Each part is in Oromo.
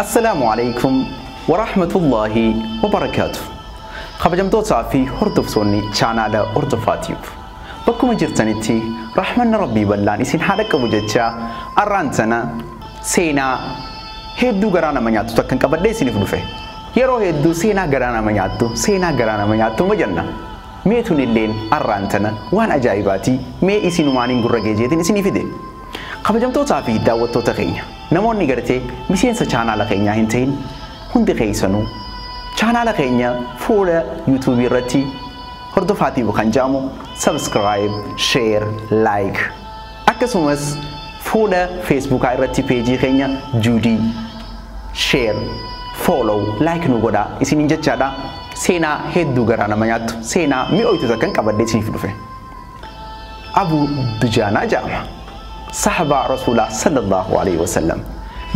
Assalaamu alaikum warahmatullahi wabarakaatu. Kabajamtootaa fi hordoftoonni chaanaala Hordofaa Tube. Bakkuma jirtanitti rahmanni Rabbii bal'aan isin haa dhaqqabu jecha arraan tana seenaa hedduu garaa nama nyaattu takkan qabadhee isiniif dhufe. Yeroo hedduu seenaa garaa nama nyaattu seenaa garaa nama nyaattu ma jenna. Mee tunilleen arraan tana waan ajaa'ibaatii mee isinumaaniin gurra geejeetiin isinii fide. Kabajamtootaa fi daawwattoota keenya namoonni gartee miseensa chaanaala keenyaa hin tahin hundi keessanuu chaanaala keenya fuula YouTube irratti hordofaa tiibu kan jedhamu subscribe, share, like akkasumas fuula Facebookaa irratti peejii keenya Juudii share, follow, like nu godhaa isiniin jechaadha. Seenaa hedduu garaa nama nyaattu seenaa mi'ooytu takkan qabadhee isiniif dhufe. Abuu Dujaanaa ja'ama. Sahabaa Rasuulaa sallallaahu aleeyhi wasallam.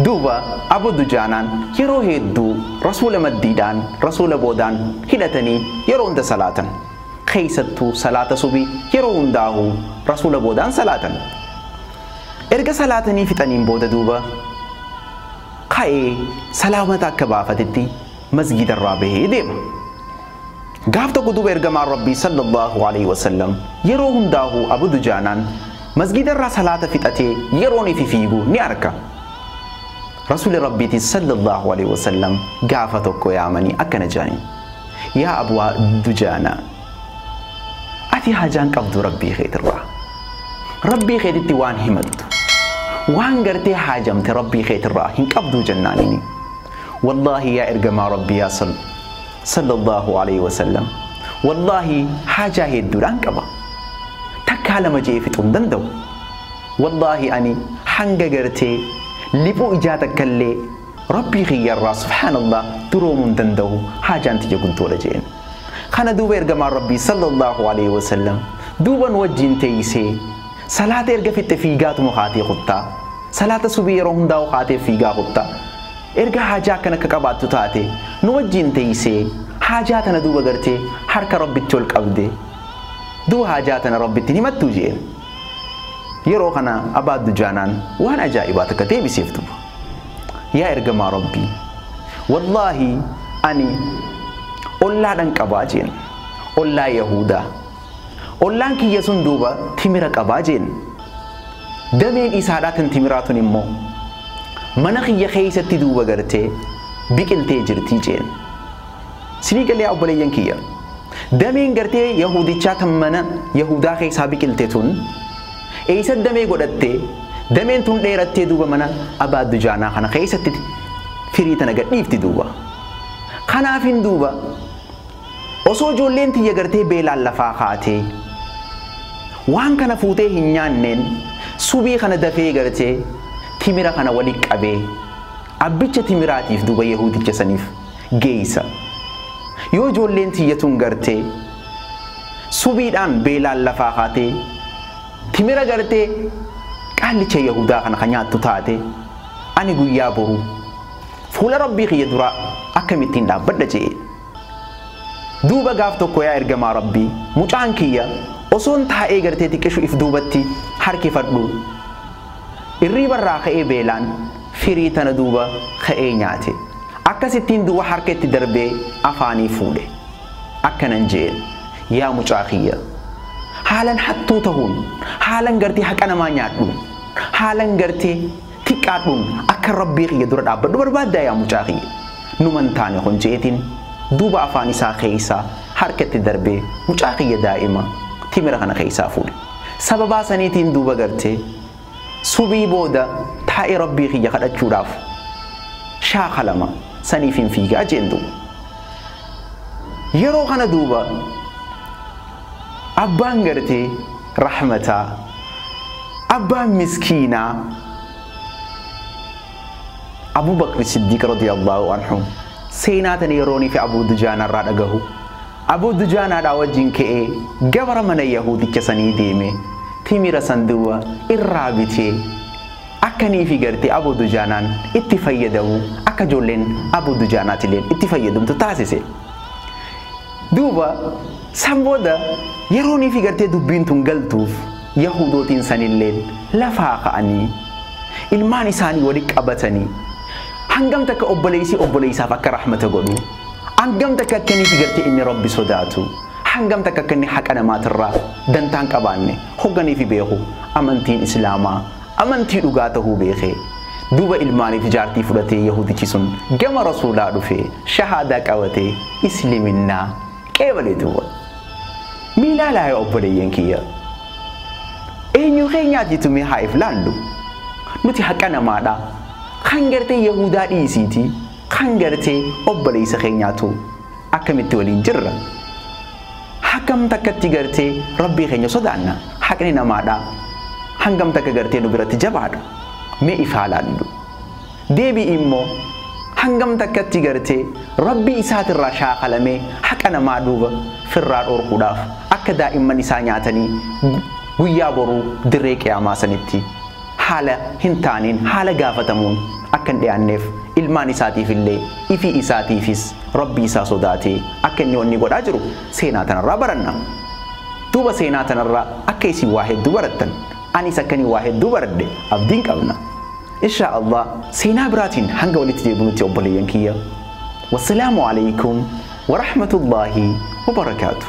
Duuba Abuu Dujaanaan yeroo heedduu Rasuula maddiidhaan Rasuula boodaan hidhatanii yeroo hunda salaatan. Kheeysattuu salaata subii yeroo hundaahuu Rasuula boodaan salaatan. Erga salaatanii fixaniin booda duuba kha'ee salaamata akka baafatetti masgiidarraa bahee deema. Gaaf tokko duuba Ergamaan Rabbii Sallallaahu Aleyhi Wasallam yeroo hundaahu Abu Dujaanaan masgiidarraa salaata fixatee yeroon ifi fiigu ni arka. Rasuuli Rabbiitis Sallallaahu Aleyhi Wasallam gaafa tokko yaamanii akkana jedhaniin, Yaa Abaa Dujaanaa! Ati haajaan qabdu Rabbii keetirraa. Rabbii keetitti waan himattu, waan gartee haajamte Rabbii keetirraa hin qabduu jennaaniini. Wallaahi yaa Ergamaa Rabbii yaa Sall. Sallallahu Aleyhi Wasallam Wallaahi haajaa heedduudhaan qaba. Takkaa lama je'ee fixuu hin danda'u. Wallaahi ani hanga gartee liphuu ijaa takkallee Rabbii kiyyarraa subhaanallah duroomuu hin danda'u haajaan tiyya guddoodha je'een. Kana duuba ergamaan Rabbii Sallallahu Aleyhi Wasallam duuba nu wajjiin teeysee salaata erga fixxe fiigaatuma kaatee kuttaa. Salaata subii yeroo hundaa'u kaatee fiigaa kutta. Erga haajaa akkana ka qabaattu taate, nu wajjiin teeysee, haajaa tana duuba gartee, harka Rabbitti ol qabde. Duuba haajaa tana Rabbitti hin himattuu? je'een. Yeroo kana Abaa Dujaanaan waan ajaa'ibaa takka deebiseef duuba. Yaa Ergamaa Rabbii! Wallaahi, ani ollaa dhan qaba je'een. Ollaa Yahuudaa. Ollaan kiyya sun duuba timira qaba jeen. Dameen isaadhaa tan timiraa tun immoo mana kiyya keeysatti duuba gartee biqiltee jirti jeen. Sinii galee yaa obboleeyyan kiyya. Dameen gartee Yahuudichaa tan mana Yahuudaa keeysaa biqilte tun eeysa damee godhattee dameen tun dheerattee duuba mana Abaa Dujaanaa kana keeysatti firii tana gadhiifti duuba. Kanaafin duuba Osoo ijoolleen tiyya gartee beelaan lafaa kaatee waan kana fuutee hin nyaanneen subii kana dafee gartee timira kana wali qabee abbicha timiraatiif duuba yahuudicha saniif geeysa. Yoo ijoolleen tiyya tun gartee subiidhaan beelaan lafaa kaatee timira gartee qaallicha yahuudaa kana ka nyaattu taate ani guyyaa boruu fuula Rabbii kiyya duraa akkamittiin dhaabbadha je'e. Duuba gaaf tokko yaa ergamaa Rabbii mucaan kiyya osoon taa'ee gartee xiqqishu if duubatti harkifadhu irriiba irraa ka'ee beelaan firii tana duuba ka'ee nyaate akkasittiin duuba harka itti darbee afaanii fuudhe akkanan je'een yaa mucaa kiyya haalan hattuu tahuun haalan gartee haqa namaa nyaadhuun haalan gartee Xiqqaadhuun akkan Rabbii kiyya dura dhaabbadhu barbaaddaa yaa mucaa kiyya? Numa hin taane kun je'eetiin duuba afaan isaa keeysaa harka itti darbee mucaa kiyya daa'ima timira kana keeysaa fuudhe. Sababaa saniitiin duuba gartee subhii booda taa'ee Rabbii kiyya kadhachuudhaaf shaakalama saniifin fiigaa je'een duuba. Yeroo kana duuba Abbaan gartee rahmataa. Abbaan miskiinaa Abuu Bakri Siddiiq radiyallaahu anhu seenaa tana yerooniifi Abuu Dujaanaa irraa dhagahu Abuu Dujaanaadhaa wajjin ka'ee gabara mana Yahuudicha sanii deeme timira san duuba irraa bitee akka niifi gartee Abuu Dujaanaan itti fayyadamu akka ijoolleen Abuu Dujaanaatileen itti fayyadamtu taasise. Duuba san booda yerooniifi gartee dubbiin tun galtuuf Yahuudootiin sanilleen lafaa ka'anii ilmaan isaanii walitti qabatanii hangam takka obboleeysi obboleeysaaf akka rahmata godhu, hangam takka akka inniifi gartee inni Rabbi sodaatu, hangam takka akka inni haqa namaatirraa dantaa hin qabaanne hoganiifi beeku amantiin Islaamaa Amantii dhugaa tahuu beekee duuba ilmaaniif jaartii fudhatee yahuudichi sun gama rasuulaa dhufee shahaadaa qabatee isliminnaa qeebalee duuba. Mee laalaa yaa obboleeyyan kiyya. Eenyuu keenyaatiitu mee haa if laallu. Nuti haqa namaadha. Kan gartee yahuudaa dhiisiitii kan gartee obboleeysa keenyaatu akkamitti waliin jirra. Hagam takkatti gartee Rabbii keenya sodaanna? Haqni namaadhaa hangam takka gartee nu biratti jabaadha? Mee if haa laallu. Deebi'i immoo hangam takkatti gartee Rabbii isaatirraa shaakalamee haqa namaa duuba firraa dhorkuudhaaf akka daa'imman isaa nyaatanii guyyaa boruu dirree qiyaamaa sanitti haala hin taaneen, haala gaafatamuun akka hin dhiyaanneef, ilmaan isaatiif illee, ifii isaatiifis Rabbii isaa sodaatee akka inni wanni godhaa jiru seenaa tanarraa baranna. Duuba seenaa tanarraa akka isin waa hedduu barattan, aniis akkani waa hedduu baradhe abdiin qabna. Inshaa Allaah seenaa biraatiin hanga walitti deebinutti obboleeyyan kiyya, Wassalaamu Aleeykum Warahmatullaahi Wabarakaatuh.